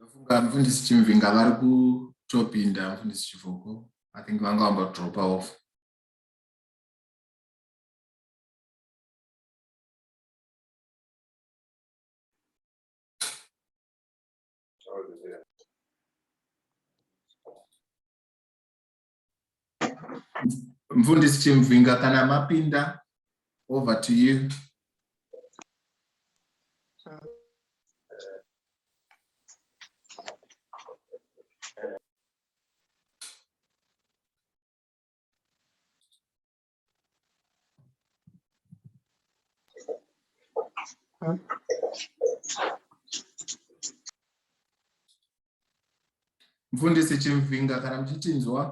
ndofunga mfundisi chimvinga vari kutopinda mfundisi chivoko i think vanga vamba kudropa off mfundisi chimvhinga kana mapinda over to you mfundisi chimvinga kana muchitinzwa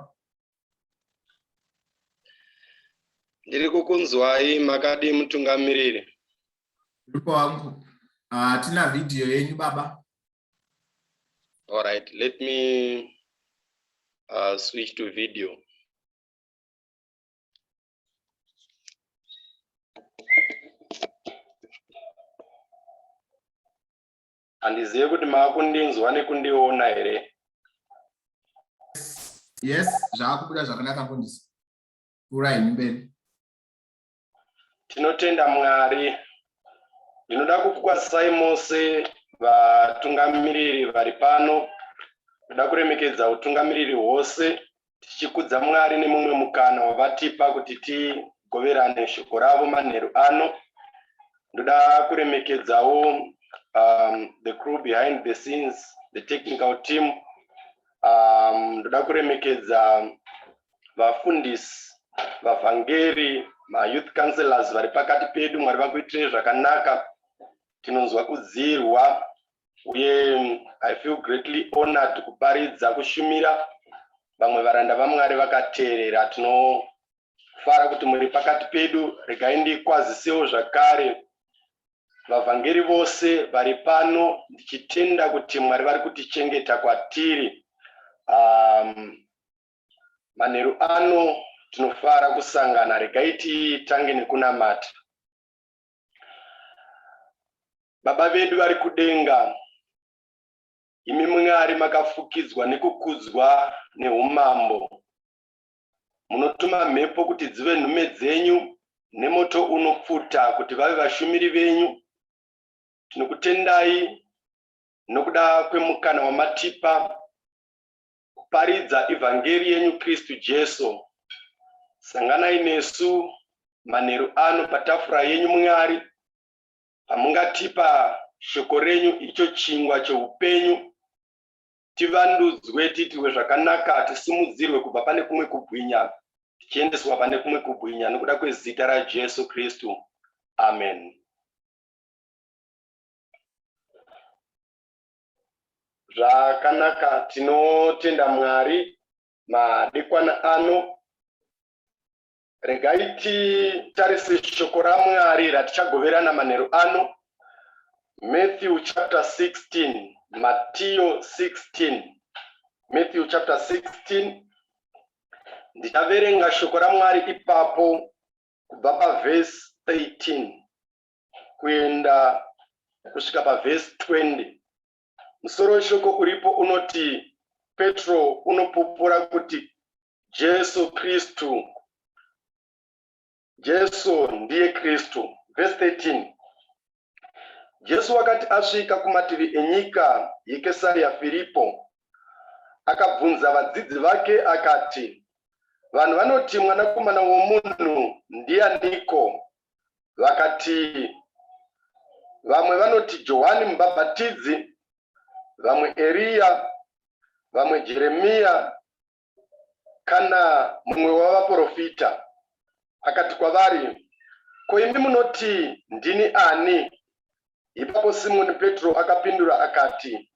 ndiri kukunzwai makadii mutungamiriri ndipo wangu hatina ah, uh, vhidhiyo yenyu baba all right let me uh, switch to video handizive kuti maakundinzwa nekundiona here yes zvaakubuda zvakanaka kundisi kurai mberi Tinotenda Mwari. Ndinoda kukukwazisai mose vatungamiriri vari pano. Ndinoda kuremekedza utungamiriri hwose tichikudza Mwari nemumwe mukana wavatipa kuti tigoverane shoko ravo manheru ano. Ndoda kuremekedzawo um, the crew behind the scenes, the technical team. Um, ndoda kuremekedza vafundisi vavhangeri mayouth councellors vari pakati pedu mwari vakuitirei zvakanaka tinonzwa kudziirwa uye i feel greatly honored kuparidza kushumira vamwe varanda vamwari vakateerera tinofara kuti muri pakati pedu regai ndikwazisewo zvakare vavhangeri vose vari pano ndichitenda kuti mwari vari kutichengeta kwatiri um, Manheru ano tinofara kusangana, regai titange nekunamata. Baba vedu vari kudenga, imi Mwari makafukidzwa nekukudzwa neumambo, munotuma mhepo kuti dzive nhume dzenyu nemoto unopfuta kuti vave vashumiri venyu. Tinokutendai nokuda kwemukana wamatipa kuparidza evhangeri yenyu Kristu Jesu. Sanganai nesu manheru ano patafura yenyu Mwari, pamungatipa shoko renyu icho chingwa cheupenyu, tivandudzwe, tiitirwe zvakanaka, tisimudzirwe kubva pane kumwe kubwinya, tichiendeswa pane kumwe kubwinya, nokuda kwezita raJesu Kristu. Amen. Zvakanaka tinotenda Mwari madekwana ano. Regai titarise shoko raMwari ratichagoverana manheru ano. Matthew chapter 16, Matthew 16. Matthew chapter 16. Ndichaverenga shoko raMwari ipapo kubva pavhesi 13. kuenda kusvika pavhesi 20 musoro weshoko uripo unoti petro unopupura kuti jesu kristu jesu ndiye kristu vhesi 13 jesu wakati asvika kumativi enyika yekesariya firipo akabvunza vadzidzi vake akati vanhu vanoti mwanakomana womunhu ndianiko vakati vamwe vanoti Johani Mubhabhatidzi, vamwe Eriya, vamwe Jeremiya kana mumwe wavaporofita. Akati kwavari, Ko imi munoti ndini ani? Ipapo Simoni Petro akapindura akati,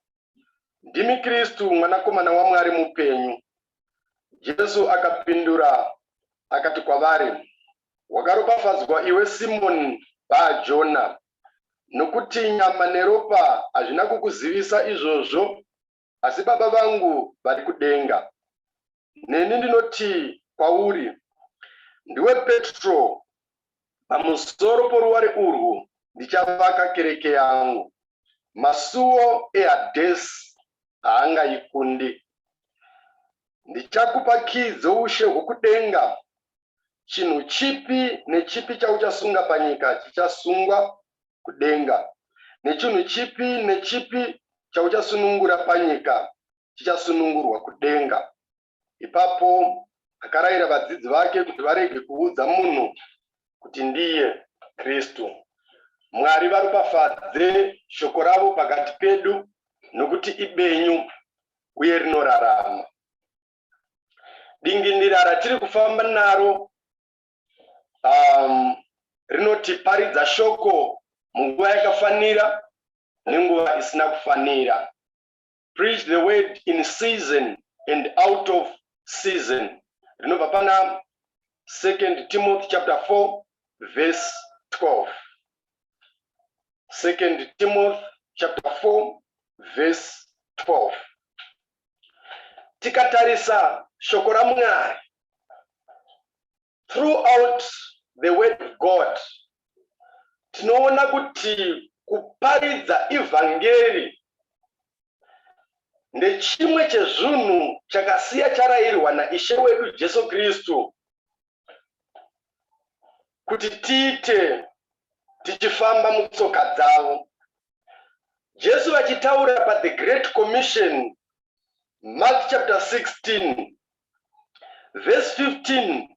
Ndimi Kristu, Mwanakomana waMwari mupenyu. Jesu akapindura akati kwavari, Wakaropafadzwa iwe Simoni Bha-Jona, nokuti nyama neropa hazvina kukuzivisa izvozvo, asi Baba vangu vari kudenga. Neni ndinoti kwauri, Ndiwe Petro, pamusoro poruware urwu ndichavaka kereke yangu, masuwo eHadhesi haangaikundi. Ndichakupa kiyi dzoushe hwokudenga Chinhu chipi nechipi chauchasunga panyika chichasungwa kudenga, nechinhu chipi nechipi chauchasunungura panyika chichasunungurwa kudenga. Ipapo akarayira vadzidzi vake kuti varege kuudza munhu kuti ndiye Kristu. Mwari varopafadze shoko ravo pakati pedu, nokuti ibenyu uye rinorarama. dingindira ratiri kufamba naro um, rinotiparidza shoko munguva yakafanira nenguva isina kufanira preach the word in season and out of season rinobva pana second timothy chapter 4 verse 12 second timothy chapter 4 verse 12 tikatarisa shoko ramwari throughout the word of god tinoona kuti kuparidza evhangeri ndechimwe chezvinhu chakasiya charayirwa naishe wedu jesu kristu kuti tiite tichifamba mutsoka dzavo jesu vachitaura pathe great commission mark chapter 16 verse 15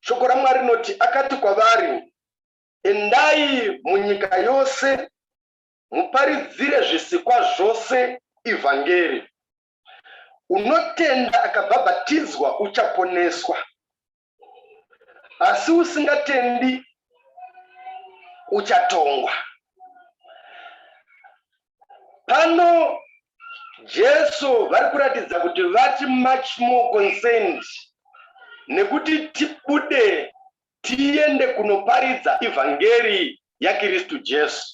shoko ramwari rinoti akati kwavari endai munyika yose muparidzire zvisikwa zvose evhangeri Unotenda akabhabhatidzwa uchaponeswa, asi usingatendi uchatongwa. Pano Jesu vari kuratidza kuti vati much more concerned nekuti tibude tiende kunoparidza evhangeri yaKristu Jesu.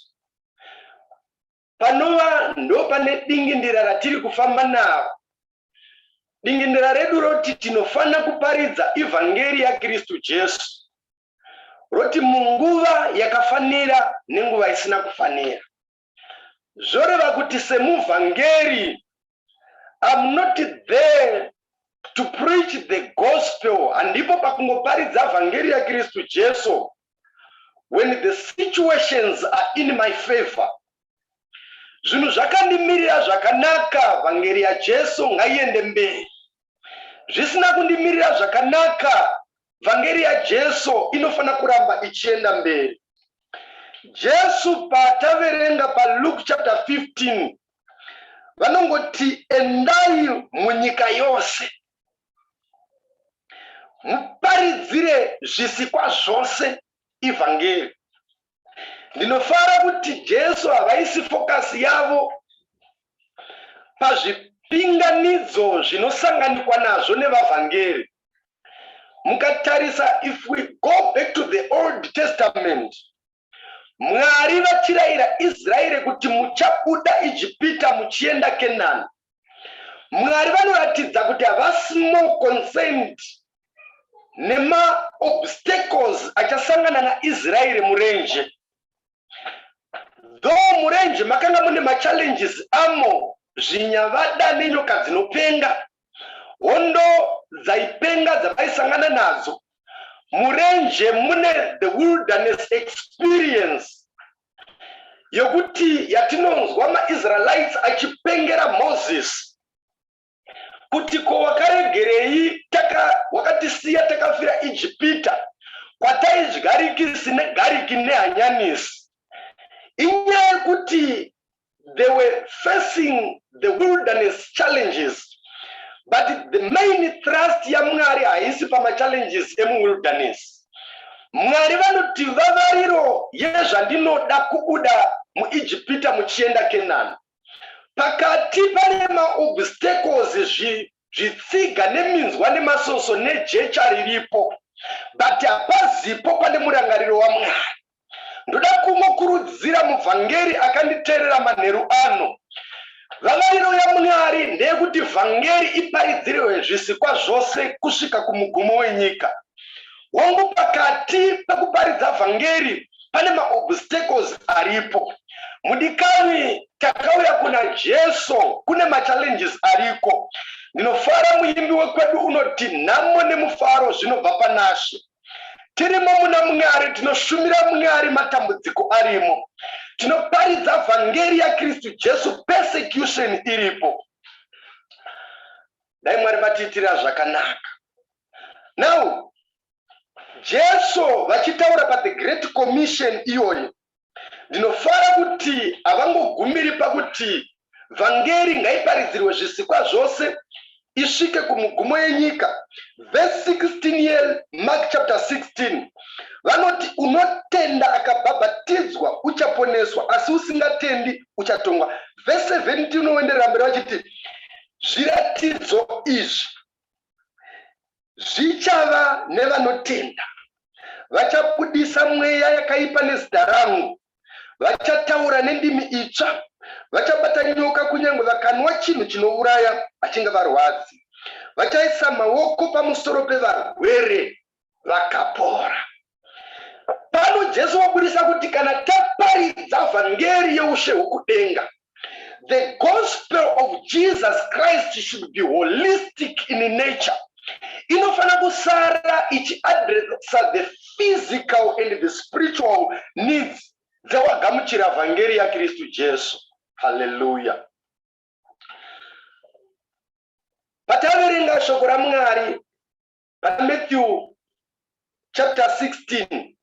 panova ndopane dingindira ratiri kufamba naro dingindira redu roti tinofanira kuparidza evhangeri yakristu jesu roti munguva yakafanira nenguva isina kufanira zvoreva kuti semuvhangeri I'm not there to preach the gospel handipo pakungoparidza vhangeri yakristu jesu when the situations are in my favor zvinhu zvakandimirira zvakanaka vhangeri yajesu ngaiende mberi zvisina kundimirira zvakanaka Vhangeri yaJesu inofanira kuramba ichienda mberi. Jesu paataverenga paLuke chapter 15 vanongoti endai munyika yose muparidzire zvisikwa zvose ivhangeri. ndinofara kuti jesu havaisi fokasi yavo pazvipinganidzo zvinosanganikwa nazvo nevavhangeri mukatarisa if we go back to the old testament mwari vachirayira israeri kuti muchabuda ijipita muchienda kenani Mwari vanoratidza kuti havasi more concerned nemaobstacles achasangana naIsraeri murenje. Though murenje makanga mune machallenges amo zvinyavada nenyoka dzinopenga, hondo dzaipenga dzavaisangana nadzo, murenje mune the wilderness experience yokuti yatinonzwa maisraelites achipengera moses kuti ko wakaregerei taka wakatisiya takafira ijipita kwataidyarikisi negariki nehanyanisi inyaya yekuti they were facing the wilderness challenges but the main thrust yamwari haisi pamachallenges emuwilderness mwari vanoti vavariro yezvandinoda kubuda muijipita muchienda kenani pakati pane maobstacles zvitsiga neminzwa nemasoso nejecha riripo but hapazipo pane murangariro wamwari Ndoda kungokurudzira muvhangeri akanditeerera manheru ano. Vavariro yaMwari ndeyekuti vhangeri iparidzirwe zvisikwa zvose kusvika kumugumo wenyika. Hongu, pakati pekuparidza vhangeri pane maobstacles aripo. Mudikanwi, takauya kuna Jesu kune machallenges ariko. Ndinofara muimbi wekwedu unoti nhamo nemufaro zvinobva panaShe. tirimo muna mwari tinoshumira mwari matambudziko arimo tinoparidza vhangeri yakristu jesu persecution iripo dai mwari vatiitira zvakanaka now jesu vachitaura pathe great commission iyoyo Ndinofara kuti havangogumiri pakuti vhangeri ngaiparidzirwe zvisikwa zvose isvike kumugumo yenyika. Vhesi 16 yeMark chapter 16 vanoti, Unotenda akabhabhatidzwa uchaponeswa, asi usingatendi uchatongwa. Vhesi 17 unoenderera mberi vachiti, Zviratidzo izvi Zvichava nevanotenda vachabudisa mweya yakaipa nezita rangu, vachataura nendimi itsva, vachabata nyoka, kunyange vakanwa chinhu chinouraya hachingavarwadzi, vachaisa maoko pamusoro pevarwere vakapora. pano jesu wabudisa kuti kana taparidza vhangeri yeushe hwekudenga the gospel of jesus christ should be holistic in nature inofanira kusara ichiadresa the physical and the spiritual needs dzewagamuchira vhangeri yakristu jesu haleluya pataverenga shoko ramwari Pana Matthew chapter 16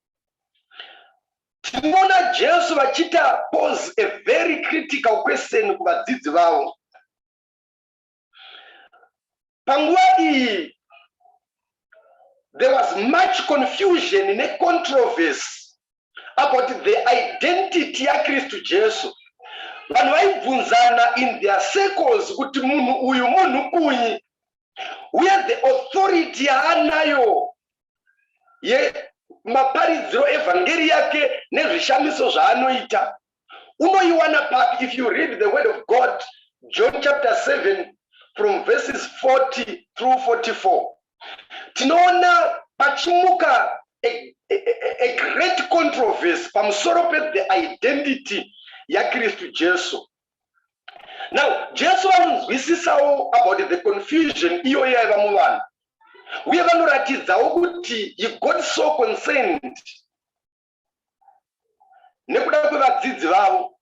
tinoona Jesu vachita pose a very critical question kuvadzidzi vavo. Panguva iyi there was much confusion necontroversy about the identity yaKristu Jesu. Vanhu vaibvunzana in their circles kuti munhu uyu munhu kunyi uye the authority yaanayo yemaparidziro evhangeri yake nezvishamiso zvaanoita unoiwana papi if you read the word of god john chapter 7 from verses 40 through 44 tinoona pachimuka a, a, a great controversy pamusoro pethe identity yakristu jesu now jesu vanonzwisisawo about the confusion iyoyo yaiva muvanhu uye vanoratidzawo kuti he got so concerned nekuda kwevadzidzi vavo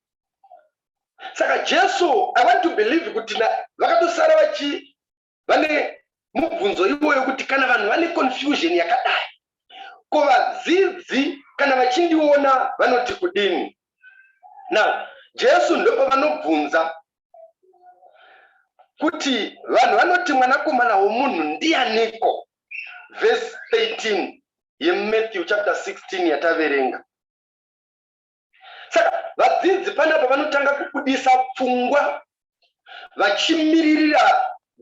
saka jesu i want to believe kuti vakatosara vachi vane mubvunzo iwoyo kuti kana vanhu vane confusion yakadai ko vadzidzi kana vachindiona vanoti kudini now jesu ndopovanobvunza kuti vanhu vanoti mwanakomana womunhu ndianiko vhesi 13 yematthew chapter 16 yataverenga saka vadzidzi panapa vanotanga kubudisa pfungwa vachimiririra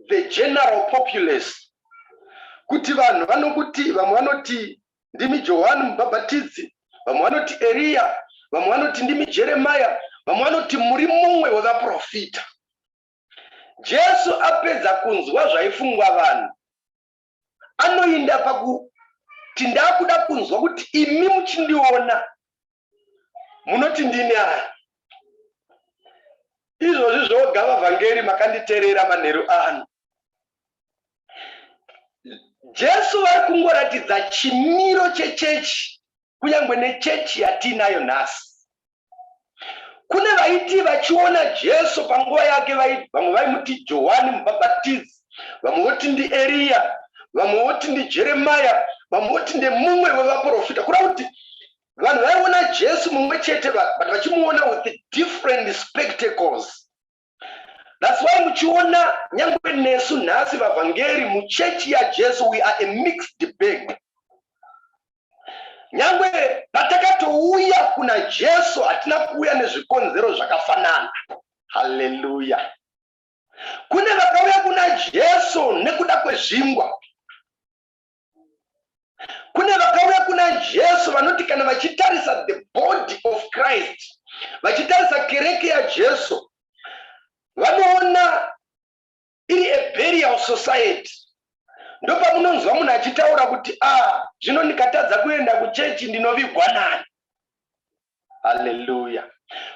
the general populace kuti vanhu vanokuti vamwe vanoti ndimi johani mubhabhatidzi vamwe vanoti eriya vamwe vanoti ndimi jeremaya vamwe vanoti muri mumwe wevaprofita jesu apedza kunzwa zvaifungwa vanhu anoinda pakuti ndakuda kunzwa kuti imi muchindiona munoti ndini ani izvozvi zvoga vavhangeri makanditerera manheru ano jesu vari kungoratidza chimiro chechechi kunyangwe nechechi yatiinayo nhasi kune vaiti vachiona jesu panguva yake vamwe vaimuti johani mubhabhatidzi vamwe voti ndieriya vamwe voti ndijeremaya vamwe voti ndemumwe wevaprofita kureva kuti vanhu vaiona jesu mumwe chete but vachimuona with different spectacles That's why muchiona nyangwe nesu nhasi vavhangeri muchechi yaJesu we are a mixed bag. Nyangwe patakatouya kuna Jesu hatina kuuya nezvikonzero zvakafanana. Hallelujah. Kune vakauya kuna Jesu nekuda kwezvingwa. kune vakauya kuna jesu vanoti kana vachitarisa the body of christ vachitarisa kereke yajesu vanoona iri a burial society ndopamunonzwa munhu achitaura kuti a ah, zvino ndikatadza kuenda kuchechi ndinovigwa nani haleluya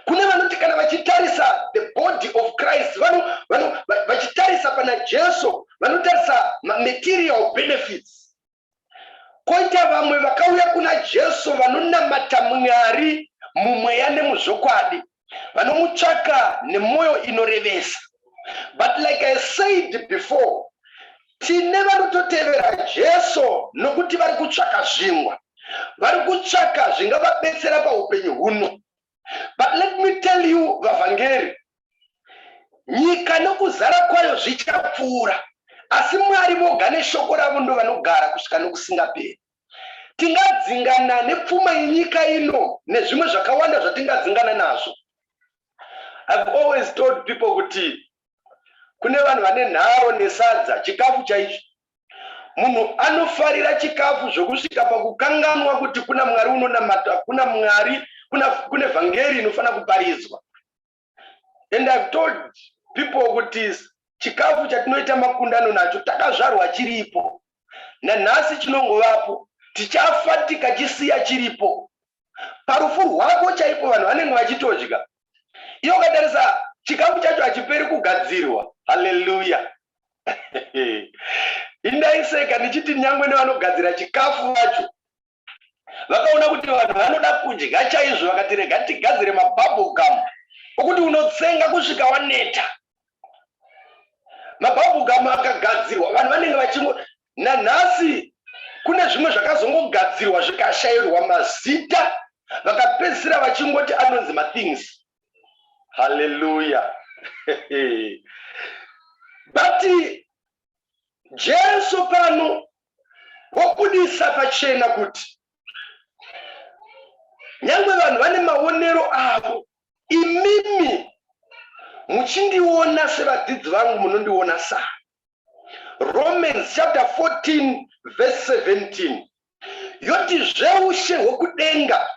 kune vanoti kana vachitarisa the body of christ vano vano vachitarisa pana jesu vanotarisa material benefits koita vamwe vakauya kuna jesu vanonamata mwari mumweya nemuzvokwadi vanomutsvaka nemwoyo inorevesa but like i said before Tine vanototevera Jesu nokuti vari kutsvaka zvingwa. Vari kutsvaka zvingavabetsera paupenyu huno. But let me tell you vavhangeri, nyika nokuzara kwayo zvichapfuura, asi Mwari voga neshoko ravo ndovanogara kusvika nokusingaperi. Tingadzingana nepfuma yenyika ino nezvimwe zvakawanda zvatingadzingana nazvo. I've always told people kuti kune vanhu vane nharo nesadza, chikafu chaicho. Munhu anofarira chikafu zvokusvika pakukanganwa kuti kuna Mwari unonamata, kuna Mwari, kuna, kune vhangeri inofanira kuparidzwa. and I've told people kuti chikafu chatinoita makundano nacho takazvarwa chiripo nanhasi chinongovapo tichafa tikachisiya chiripo parufu rwako chaipo vanhu vanenge vachitodya iyo ukatarisa chikafu chacho hachiperi kugadzirwa haleluya indaiseka ndichiti nyangwe nevanogadzira chikafu vacho vakaona kuti vanhu vanoda kudya chaizvo vakati rega tigadzire mabubble gum okuti unotsenga kusvika waneta mabubble gum akagadzirwa vanhu vanenge vachingo nanhasi kune zvimwe zvakazongogadzirwa zvikashayirwa mazita vakapedzisira vachingoti anonzi mathings haleluya but jesu pano wobudisa pachena kuti nyangwe vanhu vane maonero avo imimi muchindiona sevadzidzi vangu munondiona sa romans chapter 14 verse 17 yoti zveushe hwekudenga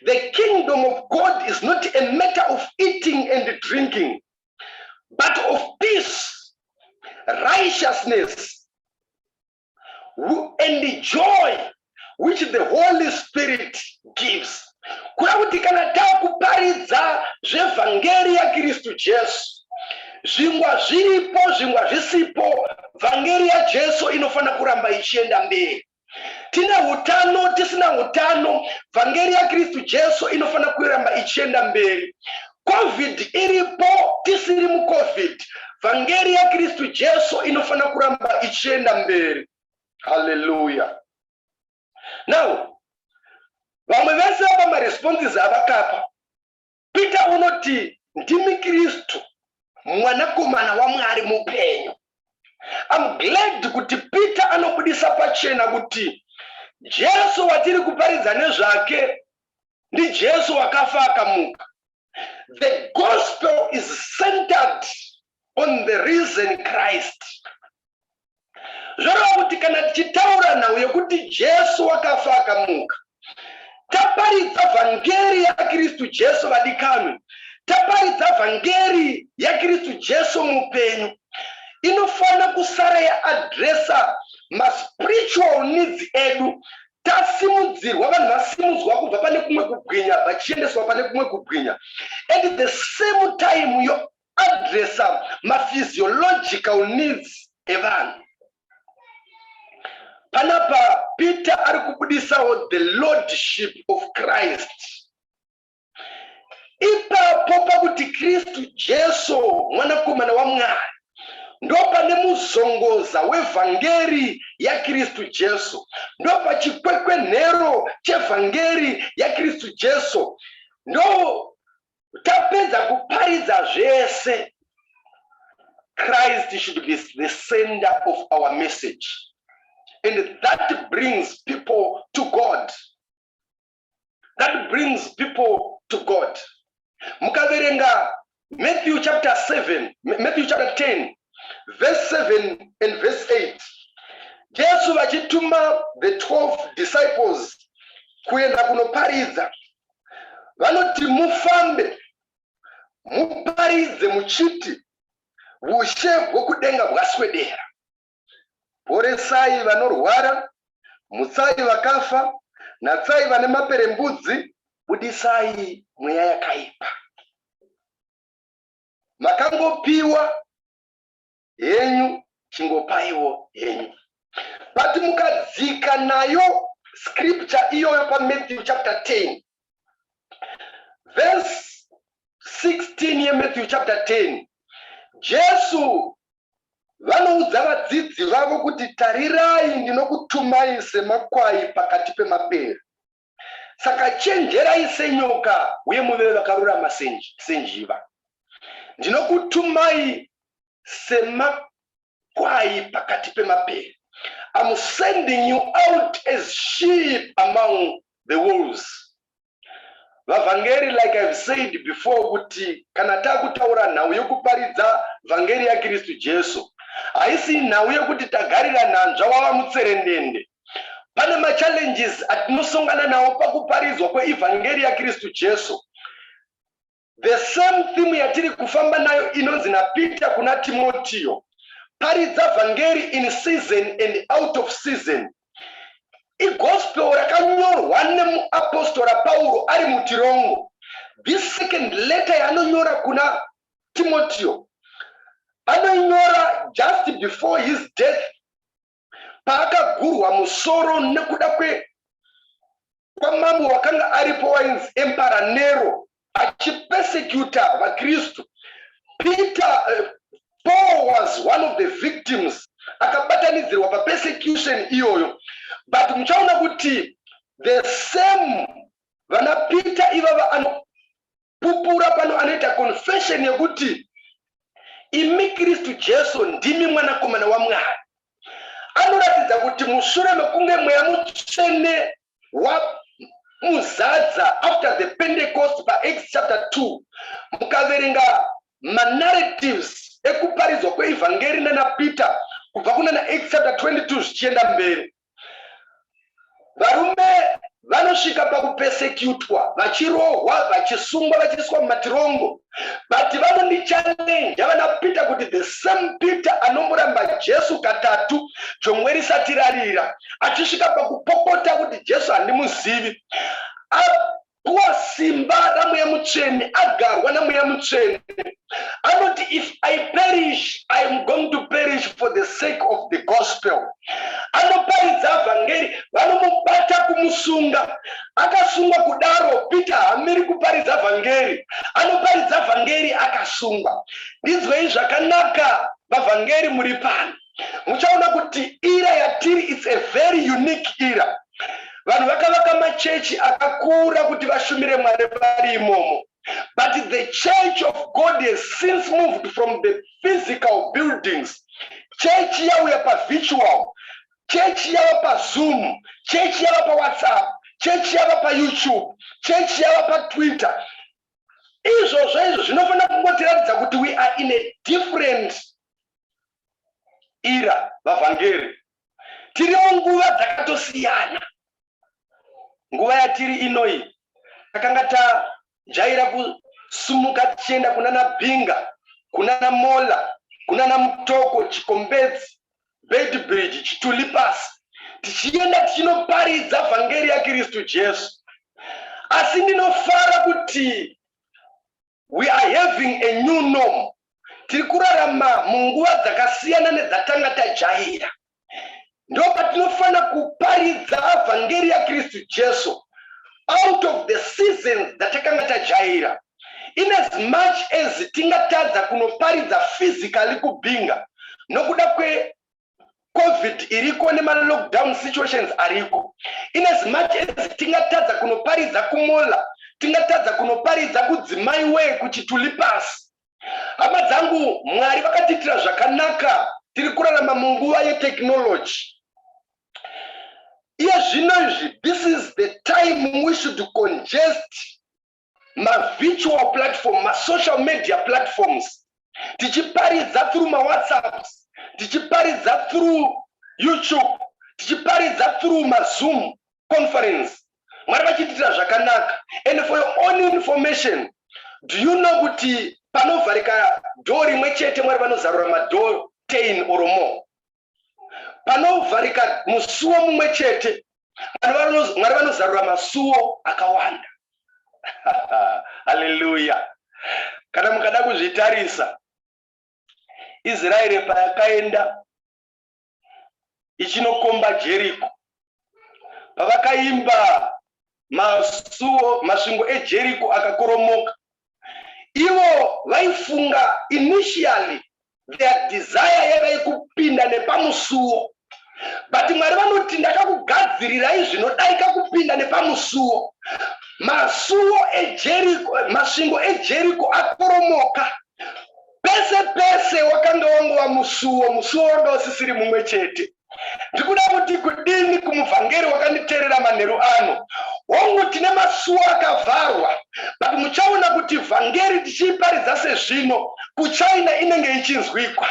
The kingdom of God is not a matter of eating and drinking, but of peace, righteousness, and joy which the Holy Spirit gives. Kuda kuti kana takuparidza zvevhangeri yaKristu Jesu zvingwa zviripo zvingwa zvisipo vhangeri yajesu inofanira kuramba ichienda mberi tine utano tisina utano vhangeri yakristu jesu inofanira kuramba ichienda mberi covid iripo tisiri mucovid vhangeri yakristu jesu inofanira kuramba ichienda mberi haleluya now vamwe vese apa maresponses avakapa Peter unoti, Ndimi Kristu, Mwanakomana waMwari mupenyu. I'm glad kuti Peter anobudisa pachena kuti Jesu watiri kuparidza nezvake ndiJesu wakafa akamuka. The gospel is centered on the reason Christ zvoreva kuti kana tichitaura nhau yekuti Jesu wakafa akamuka taparidza vhangeri yaKristu Jesu vadikanwe taparidza vhangeri yaKristu Jesu mupenyu inofanira kusara yaadresa maspiritual needs edu tasimudzirwa vanhu vasimudzwa kubva pane kumwe kubwinya vachiendeswa pane kumwe kubwinya at the same time yo Addressa maphysiological needs evanhu. Panapa Peter ari kubudisawo the lordship of Christ. Ipapo pakuti Kristu Jesu mwanakomana waMwari ndopane muzongoza wevhangeri yakristu jesu ndopachikwekwenhero chevhangeri yakristu jesu ndo Tapedza kuparidza zvese Christ should be the center of our message and that brings people to God. That brings people to God. Mukaverenga Matthew chapter 7, Matthew chapter 10, verse 7 and verse 8. Jesu vachituma the 12 disciples kuenda kunoparidza vanoti mufambe muparidze muchiti vushe hwokudenga hwaswedera poresai vanorwara mutsai vakafa natsai vane maperembudzi budisai mweya yakaipa makangopiwa henyu chingopaiwo henyu but mukadzika nayo scripture iyoyo pamatthew chapter 10 verse 16 yematthew chapter 10 jesu vanoudza vadzidzi vavo kuti tarirai ndinokutumai semakwai pakati pemapere Saka chenjerai senyoka uye muve vakarurama senjiva. Ndinokutumai semakwai pakati pemapere. I'm sending you out as sheep among the wolves. Vavhangeri like I've said before kuti kana takutaura nhau yokuparidza vhangeri yaKristu Jesu haisi nhau yokuti tagarira nhanzva wava mutserendende. Pane machallenges atinosongana nawo pakuparidzwa kweevhangeri yaKristu Jesu. The same theme yatiri kufamba nayo inonzi naPeter kuna Timotiyo, paridza vhangeri in season and out of season. Igospel rakanyorwa nemuapostora Pauro ari mutirongo. This second letter yaanonyora kuna Timotiyo anoinyora just before his death paakagurwa musoro nekuda kwe kwamambo wakanga aripo wainzi empara nero achipesecuta vakristu peter uh, paul was one of the victims akabatanidzirwa papersecution iyoyo but muchaona kuti the same vana peter ivava ano Pupura pano anoita confession yekuti imi Kristu Jesu ndimi mwanakomana waMwari. Anoratidza kuti mushure mekunge mweya mutsvene wamuzadza after the Pentecost paActs chapter 2 mukaverenga manarratives ekuparidzwa kweevhangeri nanaPeter kubva kunana Acts chapter 22 zvichienda mberi Varume vanosvika pakupesekutwa vachirohwa vachisungwa vachiiswa mumatirongo but vanondichallenja vana peter kuti the same peter anomboramba jesu katatu jongwe risati rarira achisvika pakupopota kuti jesu handimuzivi Kuva simba raMweya Mutsvene, agarwa naMweya Mutsvene, anoti if I perish, I am going to perish for the sake of the gospel. Anoparidza vhangeri, vanomubata kumusunga. Akasungwa kudaro, Peter hamiri kuparidza vhangeri. Anoparidza vhangeri akasungwa. Ndinzwei zvakanaka, vavhangeri muri pano. muchaona kuti ira yatiri its a very unique ira vanhu vakavaka machechi akakura kuti vashumire mwari vari imomo but the church of god has since moved from the physical buildings chechi yauya pavitual chechi yava pazoom chechi yava pawhatsapp chechi yava payoutube chechi yava patwitter izvozvo izvo zvinofanira kungotiratidza kuti we are in a different era vavhangeri tiri munguva dzakatosiyana nguva yatiri inoyi takanga tajaira kusumuka tichienda kunana binga kunana mola kunana mutoko chikombedzi Beitbridge, Chituli Pass, tichienda tichinoparidza vhangeri yaKristu Jesu. Asi ndinofara kuti we are having a new norm. Tiri kurarama munguva dzakasiyana nedzatanga tajaira. Ndopatinofanira kuparidza vhangeri yaKristu Jesu out of the seasons dzatakanga tajaira. In as much as tingatadza kunoparidza physically kuBinga nokuda kwe Covid iriko nema lockdown situations ariko. In as much as tingatadza kunoparidza kuMola, tingatadza kunoparidza kudzimai wee kuChituli Pass. Hama dzangu, Mwari vakatiitira zvakanaka, tiri kurarama munguva yetechnology. Iye zvino izvi, this is the time we should congest mavirtual platform masocial media platforms tichiparidza through mawhatsapps tichiparidza through youtube tichiparidza through mazoom conference mwari vachitiitira zvakanaka and for your own information do you know kuti panovharika dhoo rimwe chete mwari vanozarura madhoo 10 or more panovharika musuwo mumwe chete mwari vanozarura masuwo akawanda haleluya kana mukada kuzvitarisa israeri payakaenda ichinokomba jeriko pavakaimba masuwo masvingo ejeriko akakoromoka ivo vaifunga initially their desire yaiva yekupinda nepamusuwo but mwari vanoti ndakakugadzirirai zvinodarika kupinda nepamusuwo masuwo ejeriko masvingo ejeriko akoromoka pese pese wakanga wangova musuwo musuwo wanga usisiri mumwe chete ndikuda kuti kudini kumuvhangeri wakanditeerera manheru ano hongu tine masuwo akavharwa but muchaona kuti vhangeri tichiiparidza sezvino kuchina inenge ichinzwikwa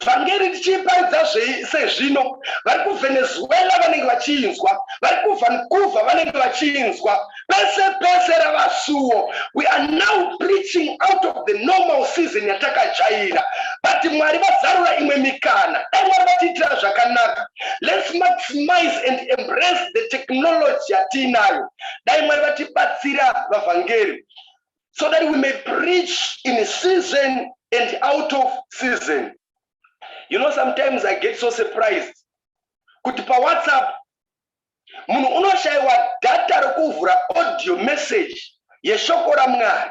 vhangeri tichiiparidza sezvino vari kuvenezuela vanenge vachiinzwa vari kuvancouver vanenge vachiinzwa pese pese rava suwo we are now preaching out of the normal season yatakajaira but mwari vazarura imwe mikana dai mwari vatiitira zvakanaka lets maximize and embrace the technology yatiinayo dai mwari vatibatsira vavhangeri so that we may preach in season and out of season you know sometimes i get so surprised kuti pawhatsapp munhu unoshaiwa data rekuvhura audio message yeshoko ramwari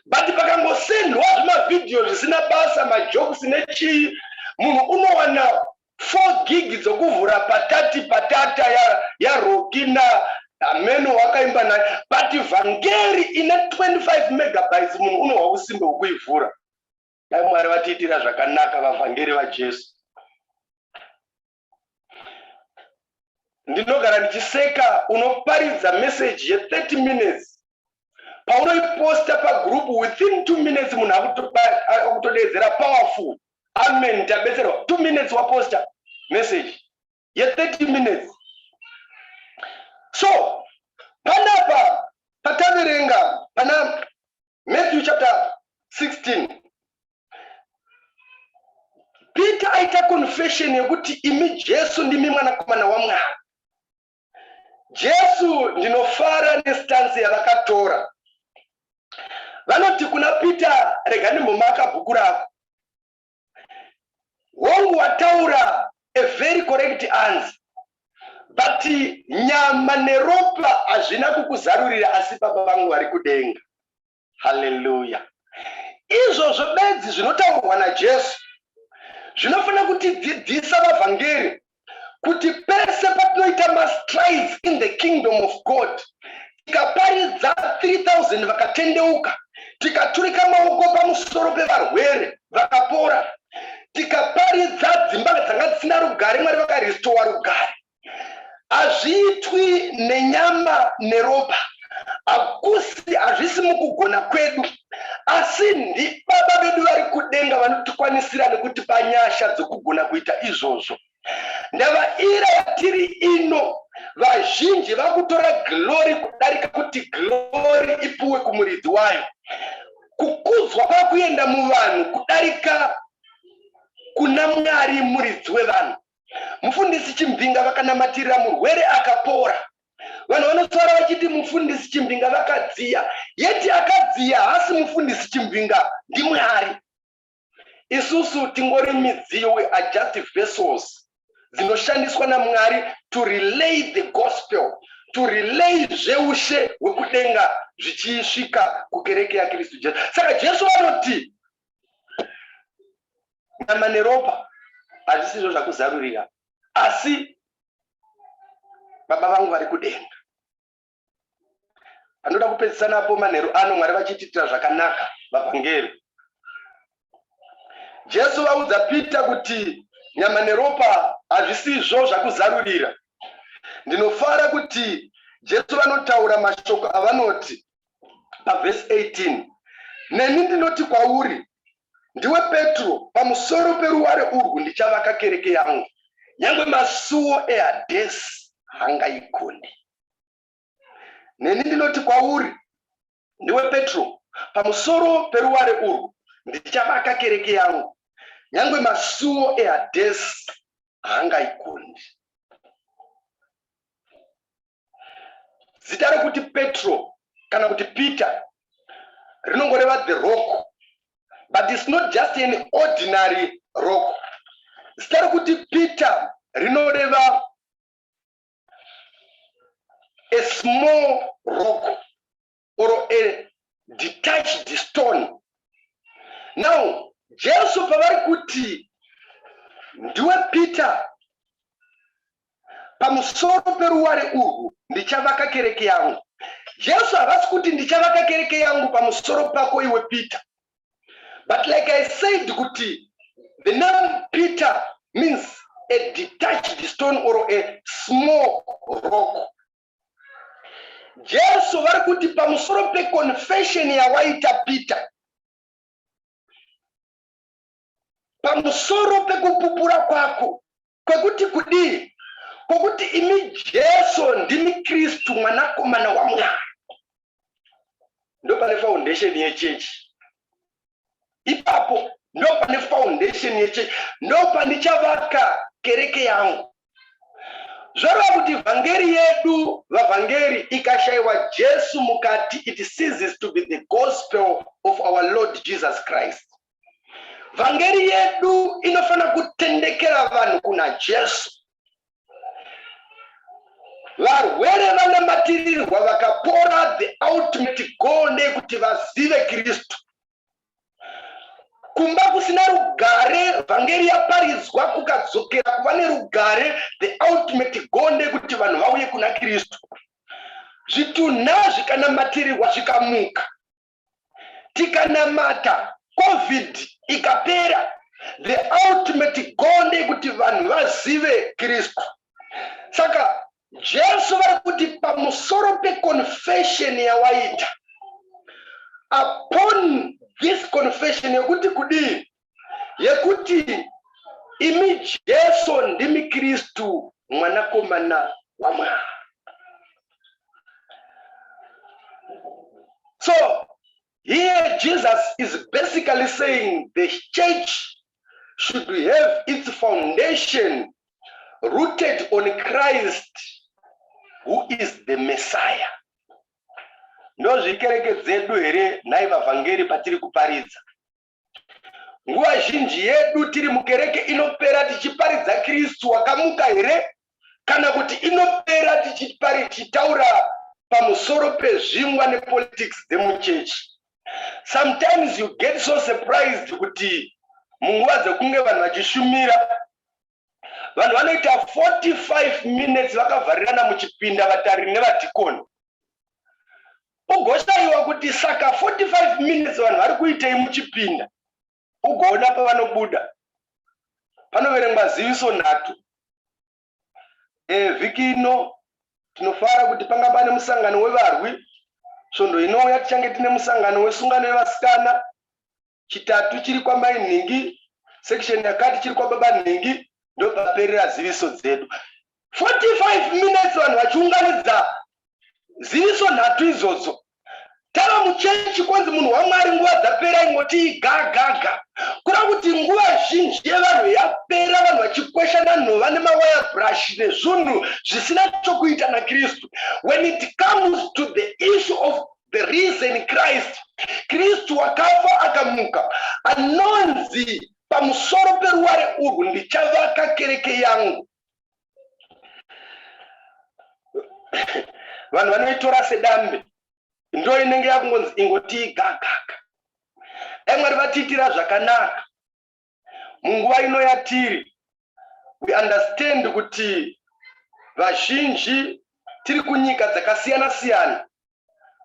but pakangosendwa zvimavhidhiyo zvisina basa majokes nechii munhu unowana four gig dzokuvhura patati patata yarokina ya hameno wakaimba naye but vhangeri ine 25 megabytes munhu unohwa usimbe hwekuivhura Dai Mwari vatiitira zvakanaka vavhangeri vaJesu. Ndinogara ndichiseka unoparidza message ye 30 minutes paunoiposta pagroup within 2 minutes munhu akutodeedzera powerful amen tabetserwa 2 minutes waposta message ye 30 minutes so panapa pataverenga pana matthew chapter 16 peter aita confession yekuti imi jesu ndimi mwanakomana wamwari jesu ndinofara nestansi yavakatora vanoti kuna peter rega ndimbomaka bhuku rako hongu wataura a very correct answer but nyama neropa hazvina kukuzarurira asi baba vangu vari kudenga haleluya izvozvo bedzi zvinotaurwa najesu zvinofanira kutidzidzisa vavhangeri kuti pese patinoita mastrides in the kingdom of god tikaparidza 3000 vakatendeuka tikaturika maoko pamusoro pevarwere vakapora tikaparidza dzimba dzanga dzisina rugare mwari vakaristowa rugare hazviitwi nenyama neropa hakusi hazvisi mukugona kwedu Asi ndiBaba vedu vari kudenga vanotikwanisira nekutipa nyasha dzokugona kuita izvozvo. Ndava ira yatiri ino, vazhinji vakutora glori kudarika kuti glori ipuwe kumuridzi wayo. Kukudzwa kwakuenda muvanhu kudarika kuna Mwari muridzi wevanhu. Mufundisi Chimbinga vakanamatirira murwere akapora. Vanhu vanotaura vachiti mufundisi Chimbinga vakadziya, yeti akadziya haasi mufundisi Chimbinga, ndiMwari. Isusu tingori midziyo, we are just vessels dzinoshandiswa naMwari to relay the gospel, to relay zveushe hwekudenga zvichisvika kukereke yaKristu Jesu. Saka Jesu vanoti nyama neropa hazvisizvo zvakuzarurira asi baba vangu vari kudenga vanoda kupedzisa napo manheru ano mwari vachitiitira zvakanaka vavhangeri jesu vaudza pita kuti nyama neropa hazvisizvo zvakuzarurira ndinofara kuti jesu vanotaura mashoko avanoti pavhesi 18 neni ndinoti kwauri Ndiwe Petro, pamusoro peruware urwu ndichavaka kereke yangu, nyangwe masuwo eHadhesi haangaigonde. Neni ndinoti kwauri, ndiwe Petro, pamusoro peruware urwu ndichavaka kereke yangu, nyangwe masuwo eHadhesi haangaigonde. zita rekuti petro kana kuti peter rinongoreva the rock but its not just an ordinary rock zita rekuti peter rinoreva a small rock or a detached stone now jesu pavari kuti ndiwe peter pamusoro peruware urwu ndichavaka kereke yangu jesu havasi kuti ndichavaka kereke yangu pamusoro pako iwe peter but like i said kuti the name peter means a detached stone or a small rock Jesu vari kuti pamusoro peconfession yawaita Peter, pamusoro pekupupura kwako kwekuti kudii, kwokuti imi Jesu ndimi Kristu mwanakomana waMwari. ndopane foundation yechechi ipapo ndopane foundation yechechi ndopandichavatka kereke yangu zvoreva kuti vhangeri yedu vavhangeri ikashayiwa jesu mukati it seases to be the gospel of our lord jesus christ vhangeri yedu inofanira kutendekera vanhu kuna jesu varwere vanamatirirwa vakapora the ultimate goal ndeyekuti vazive kristu kumba kusina rugare vhangeri yaparidzwa kukadzokera kuva nerugare the ultimate goal ndeyekuti vanhu vauye kuna kristu zvitunha zvikanamatirirwa zvikamuka tikanamata covid ikapera the ultimate goal ndeyekuti vanhu vazive kristu saka jesu vari kuti pamusoro peconfession yawaita upon this confession yekuti kudii yekuti imi Jesu ndimi Kristu mwanakomana waMwari. So here Jesus is basically saying the church should have its foundation rooted on Christ who is the Messiah. Ndozvikereke dzedu here nhai vavhangeri patiri kuparidza? nguva zhinji yedu tiri mukereke inopera tichiparidza kristu wakamuka here kana kuti inopera tichitaura pamusoro pezvingwa nepolitics dzemuchechi sometimes you get so surprised kuti munguva dzekunge vanhu vachishumira vanhu vanoita 45 minutes vakavharirana muchipinda vatariri nevadhikoni ugoshaiwa kuti saka 45 minutes vanhu vari kuitei muchipinda ugoona pavanobuda panoverengwa ziviso nhatu e, vhiki ino tinofara kuti panga pane musangano wevarwi svondo inouya tichange tine musangano wesungano yevasikana chitatu chiri kwamai nhingi section yakati chiri kwababa nhingi ndopaperera ziviso dzedu 45 minutes vanhu vachiunganidza ziviso nhatu idzodzo tava muchechi kwanzi munhu wamwari nguva dzapera ingoti igagaga kura kuti nguva zhinji yevanhu yapera vanhu vachikweshana nhova nemawaya brush nezvunhu zvisina chokuita nakristu when it comes to the issue of the reason christ kristu wakafa akamuka anonzi pamusoro peruware urwu ndichavaka kereke yangu vanhu vanoitora sedambe ndo inenge yakungonzi ingotii gagaka emwari vatiitira zvakanaka munguva ino yatiri we understand kuti vazhinji tiri kunyika dzakasiyana siyana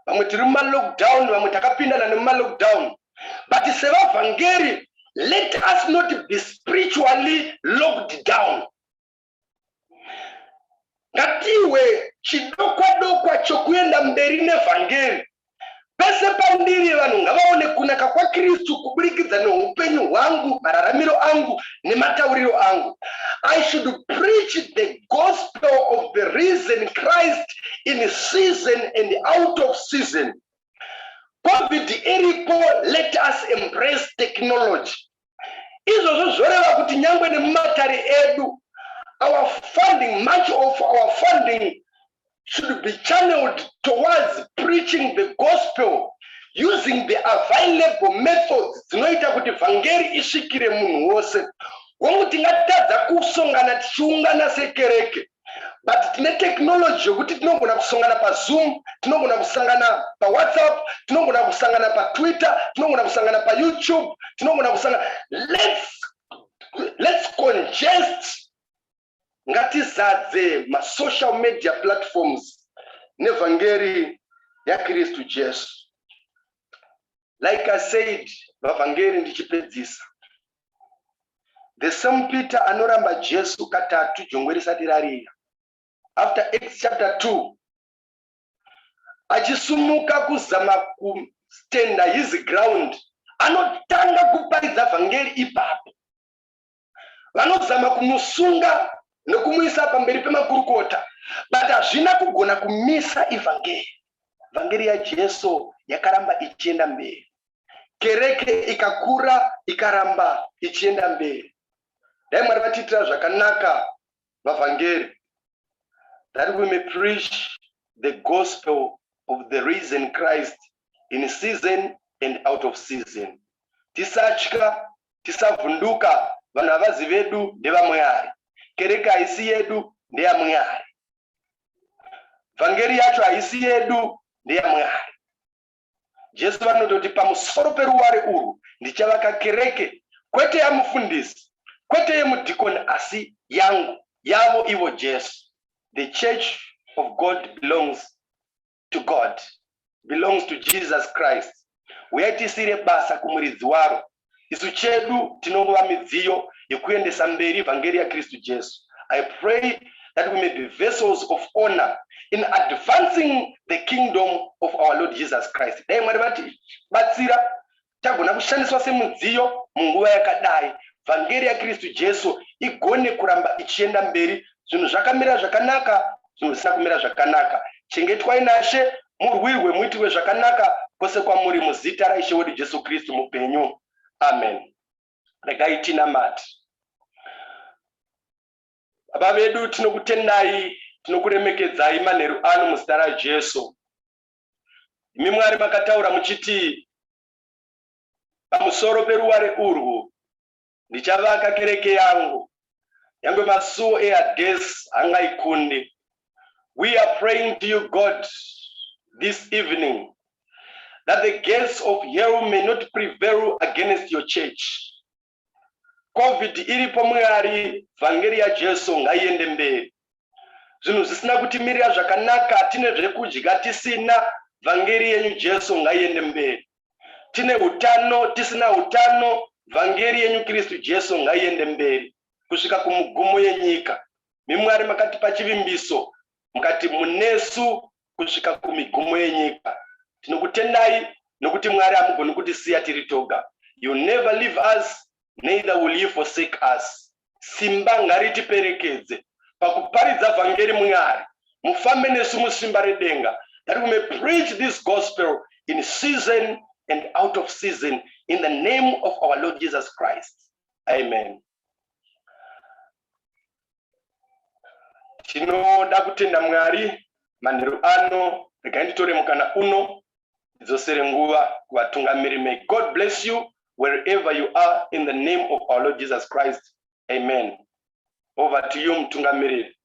vamwe tiri mumalockdown vamwe takapindana nemumalockdown but sevavhangeri let us not be spiritually locked down ngatiwe chidokwa dokwa chokuenda mberi nevhangeri pese pandiri vanhu ngavaone kunaka kwakristu kuburikidza neupenyu hwangu mararamiro angu nematauriro angu i should preach the gospel of the reason christ in season and out of season covid iripo let us embrace technology izvozvo zvoreva kuti nyangwe nemumatare edu our funding much of our funding should be channeled towards preaching the gospel using the available methods dzinoita kuti vhangeri isvikire munhu wose hongu tingatadza kusongana tichiungana sekereke but tine technology yokuti tinogona kusongana pazoom tinogona kusangana pawhatsapp tinogona kusangana patwitter tinogona kusangana payoutube tinogona kusangana lets lets congest ngatizadze masocial media platforms nevhangeri yakristu jesu like i said vavhangeri ndichipedzisa The same Peter anoramba Jesu katatu jongwe risati rarira. After Acts chapter 2 achisumuka kuzama kustenda his ground anotanga kuparidza vhangeri ipapo. Vanozama kumusunga nokumuisa pamberi pemakurukota but hazvina kugona kumisa ivhangeri. Vhangeri yaJesu yakaramba ichienda mberi. kereke ikakura ikaramba ichienda mberi dai mwari vatiitira zvakanaka vavhangeri that we may preach the gospel of the reason christ in season and out of season tisatya tisavhunduka vanhu havazi vedu ndevamweari kereke haisi yedu ndeyamweari vhangeri yacho haisi yedu ndeyamweari Jesu vanototi pamusoro peruware urwu ndichavaka kereke, kwete yamufundisi, kwete yemudhikoni asi yangu, yavo ivo Jesu. The church of God belongs to God, belongs to Jesus Christ. Huyai tisiire basa kumuridzi waro, isu chedu tinongova midziyo yekuendesa mberi vhangeri yakristu jesu i pray that we may be vessels of honor in advancing the kingdom of our lord jesus christ dai mwari vatibatsira tagona kushandiswa semudziyo munguva yakadai vhangeri yakristu jesu igone kuramba ichienda mberi zvinhu zvakamira zvakanaka zvinhu zvisina kumira zvakanaka chengetwai nashe murwirwe muitirwe zvakanaka kwose kwamuri muzita raishe wedu jesu kristu mupenyu amen regai tinamati baba vedu tinokutendai tinokuremekedzai manheru ano muzita rajesu imi mwari makataura muchiti pamusoro peruware urwu Ndichavaka kereke yangu, nyangwe masuo eHadesi hangaikundi. We are praying to you God this evening that the gates of hell may not prevail against your church. Covid iripo Mwari, vhangeri yaJesu ngaiende mberi. zvinhu zvisina kutimirira zvakanaka tine zvekudya tisina vhangeri yenyu jesu ngaiende mberi tine utano tisina utano vhangeri yenyu kristu jesu ngaiende mberi kusvika kumugumo yenyika mimwari makatipa chivimbiso mukati munesu kusvika kumigumo yenyika. Tinokutendai nokuti Mwari hamugoni kutisiya tiri toga. You never leave us, neither will you forsake us. Simba ngaritiperekedze pakuparidza vhangeri Mwari. Mufambe nesu musimba redenga that we may preach this gospel in season and out of season in the name of our Lord Jesus Christ. Amen. tinoda kutenda mwari manheru ano regai nditore mukana uno ndidzosere nguva kuvatungamiri may god bless you wherever you are in the name of our lord jesus christ amen over to you mutungamiriri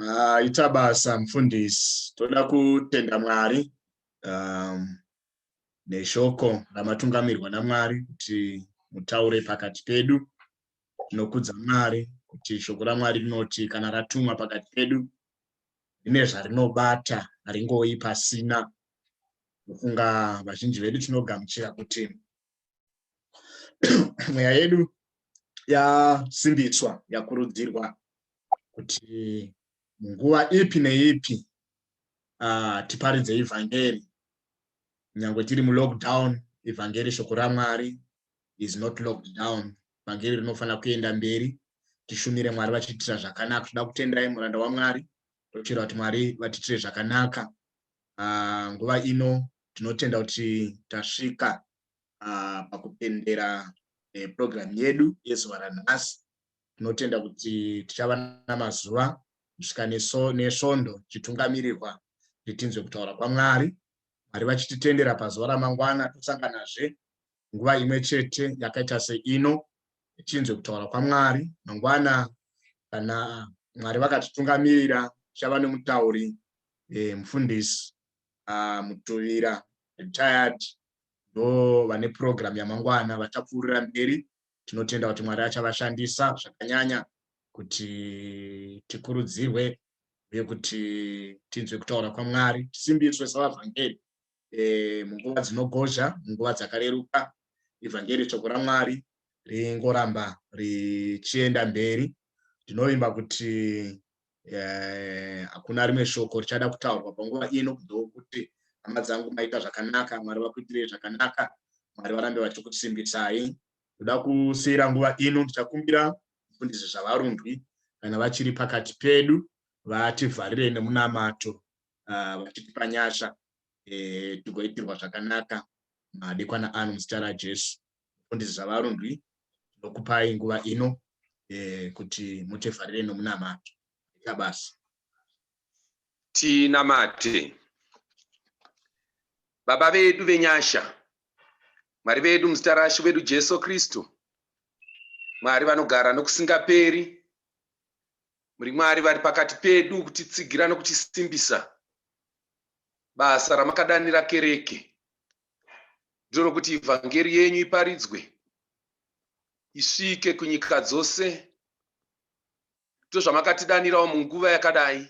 Ah, ita basa mfundisi toda kutenda mwari um, neshoko ramatungamirwa namwari kuti mutaure pakati pedu tinokudza mwari kuti shoko ramwari rinoti kana ratumwa pakati pedu rine zvarinobata haringoyi pasina kufunga vazhinji vedu tinogamuchira kuti mweya yedu yasimbiswa yakurudzirwa kuti nguva ipi neipi uh, tiparidze evhangeri nyange tiri mulockdown evhangeri shoko ramwari is not locked down evhangeri rinofanira kuenda mberi tishumire mwari vachiitira zvakanaka tinoda kutenderai muranda wamwari tochera kuti mwari vatiitire zvakanaka uh, nguva ino tinotenda kuti tasvika uh, pakupendera eh, program yedu yezuva ranhasi tinotenda kuti tichava namazuva kusvika nesvondo tichitungamirirwa kuti tinzwe kutaura kwamwari mwari vachititendera pazuva ramangwana tosanganazve nguva imwe chete yakaita seino tichinzwe kutaura kwamwari mangwana kana mwari vakatitungamirira tichava nemutauri eh, mufundisi ah, mutuvira retired ndo vane purogiramu yamangwana vachapfuurira mberi tinotenda kuti mwari achavashandisa zvakanyanya kuti tikurudzirwe uye kuti tinzwe kutaura kwamwari tisimbiswe savavhangeri e, munguva dzinogozha munguva dzakareruka ivhangeri shoko ramwari ringoramba richienda mberi ndinovimba kuti eh, hakuna rimwe shoko richada kutaurwa panguva ino kudo kuti hama dzangu maita zvakanaka mwari vakuitirei zvakanaka mwari varambe vachikusimbisai ndoda kusiyira nguva ino ndichakumbira mufundisi zvavarundwi kana vachiri pakati pedu vativharirei nemunamato ah, vachitipa nyasha eh, tigoitirwa zvakanaka madekwana ano muzita rajesu mufundisi zvavarundwi tinokupai nguva ino eh, kuti mutefarire nomunamato ita basa tinamate baba vedu venyasha mwari vedu muzita rashe vedu jesu kristu mwari vanogara nokusingaperi Muri Mwari vari pakati pedu kutitsigira nokutisimbisa. Basa ramakadanira kereke ndiro rokuti ivhangeri yenyu iparidzwe, isvike kunyika dzose. Ndozvamakatidanirawo munguva yakadai.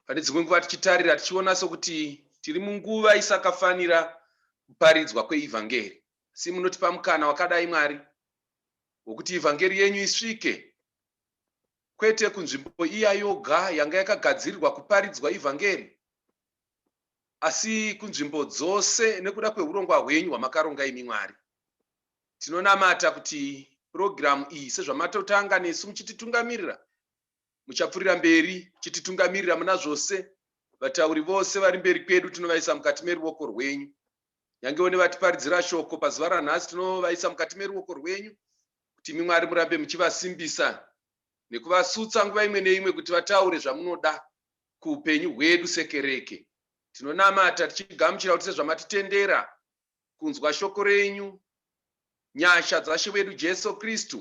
Pane dzimwe nguva tichitarira tichiona sokuti tiri munguva isakafanira kuparidzwa kweivhangeri, asi munotipa mukana wakadai Mwari wokuti ivhangeri yenyu isvike kwete kunzvimbo iya yoga yanga yakagadzirirwa kuparidzwa ivhangeri, asi kunzvimbo dzose nekuda kwehurongwa hwenyu hwamakaronga imi Mwari. Tinonamata kuti purogiramu iyi, sezvamatotanga nesu muchititungamirira, muchapfurira mberi muchititungamirira muna zvose. Vatauri vose vari mberi kwedu tinovaisa mukati meruoko rwenyu. Nyangewo nevatiparidzira shoko pazuva ranhasi tinovaisa mukati meruoko rwenyu kuti imi Mwari murambe muchivasimbisa nekuvasutsa nguva imwe neimwe kuti vataure zvamunoda kuupenyu hwedu sekereke. Tinonamata tichigamuchira kuti sezvamatitendera kunzwa shoko renyu, nyasha dzaShe wedu Jesu Kristu,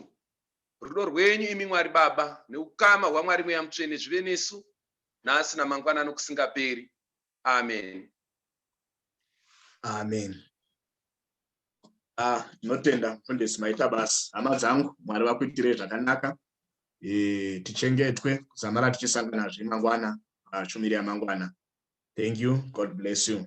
rudo rwenyu imi Mwari Baba neukama hwaMwari Mweya Mutsvene zvive nesu nhasi namangwana nokusingaperi. amen amen ah notenda mfundisi maita basa hama dzangu mwari vakuitirei zvakanaka e, tichengetwe kuzamara tichisanganazve mangwana ah, shumiri yamangwana thank you god bless you